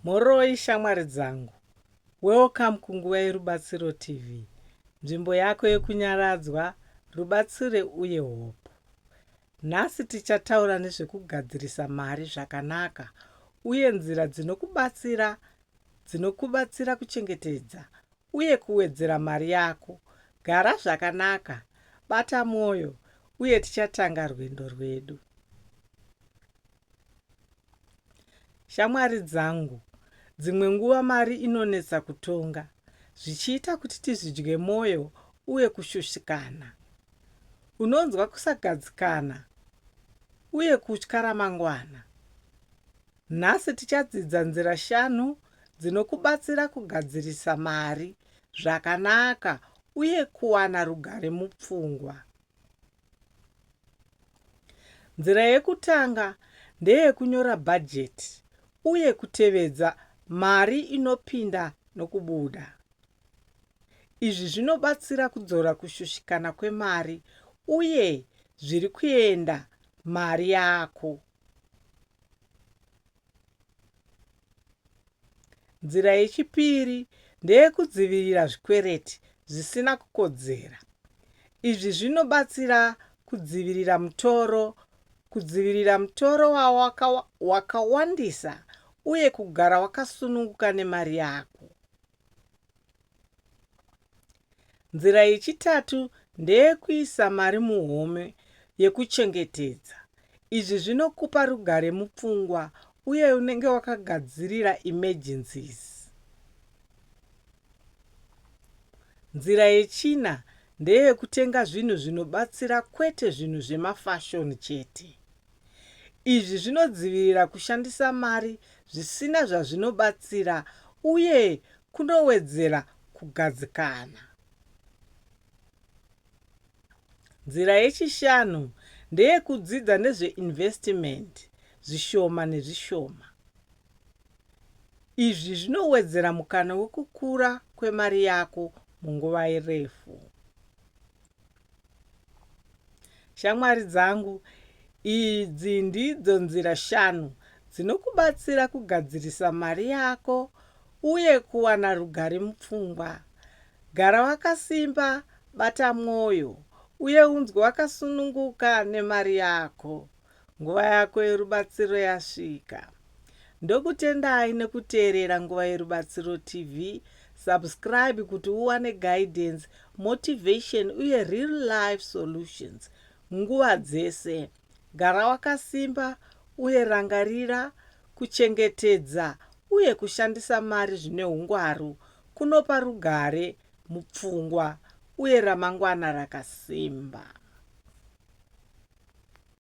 Mhoroi shamwari dzangu. Welcome kunguva yeRubatsiro TV, nzvimbo yako yekunyaradzwa, rubatsire uye hope. Nhasi tichataura nezvekugadzirisa mari zvakanaka uye nzira dzinokubatsira dzinokubatsira kuchengetedza uye kuwedzera mari yako. Gara zvakanaka, bata mwoyo uye tichatanga rwendo rwedu. Shamwari dzangu, dzimwe nguva mari inonetsa kutonga zvichiita kuti tizvidye mwoyo uye kushushikana. Unonzwa kusagadzikana uye kutya ramangwana. Nhasi tichadzidza nzira shanu dzinokubatsira kugadzirisa mari zvakanaka uye kuwana rugare mupfungwa. Nzira yekutanga ndeyekunyora bhajeti uye kutevedza mari inopinda nokubuda. Izvi zvinobatsira kudzora kushushikana kwemari uye zviri kuenda mari yako. Nzira yechipiri ndeyekudzivirira zvikwereti zvisina kukodzera. Izvi zvinobatsira kudzivirira mutoro, kudzivirira mutoro wawaka, wakawandisa uye kugara wakasununguka nemari yako. Nzira yechitatu ndeyekuisa mari muhome yekuchengetedza. Izvi zvinokupa rugare mupfungwa uye unenge wakagadzirira emergencies. Nzira yechina ndeyekutenga zvinhu zvinobatsira kwete zvinhu zvemafashoni chete. Izvi zvinodzivirira kushandisa mari zvisina zvazvinobatsira uye kunowedzera kugadzikana. Nzira yechishanu ndeyekudzidza nezveinvestimenti zvishoma nezvishoma. Izvi zvinowedzera mukana wekukura kwemari yako munguva refu. Shamwari dzangu, idzi ndidzo nzira shanu dzinokubatsira kugadzirisa mari yako uye kuwana rugare mupfungwa. Gara wakasimba, bata mwoyo, uye unzwe wakasununguka nemari yako. Nguva yako yerubatsiro yasvika. Ndokutendai nekuteerera Nguva Yerubatsiro TV. Subscribe kuti uwane guidance, motivation uye real life solutions nguva dzese. Gara wakasimba uye rangarira kuchengetedza uye kushandisa mari zvine hungwaru kunopa rugare mupfungwa uye ramangwana rakasimba.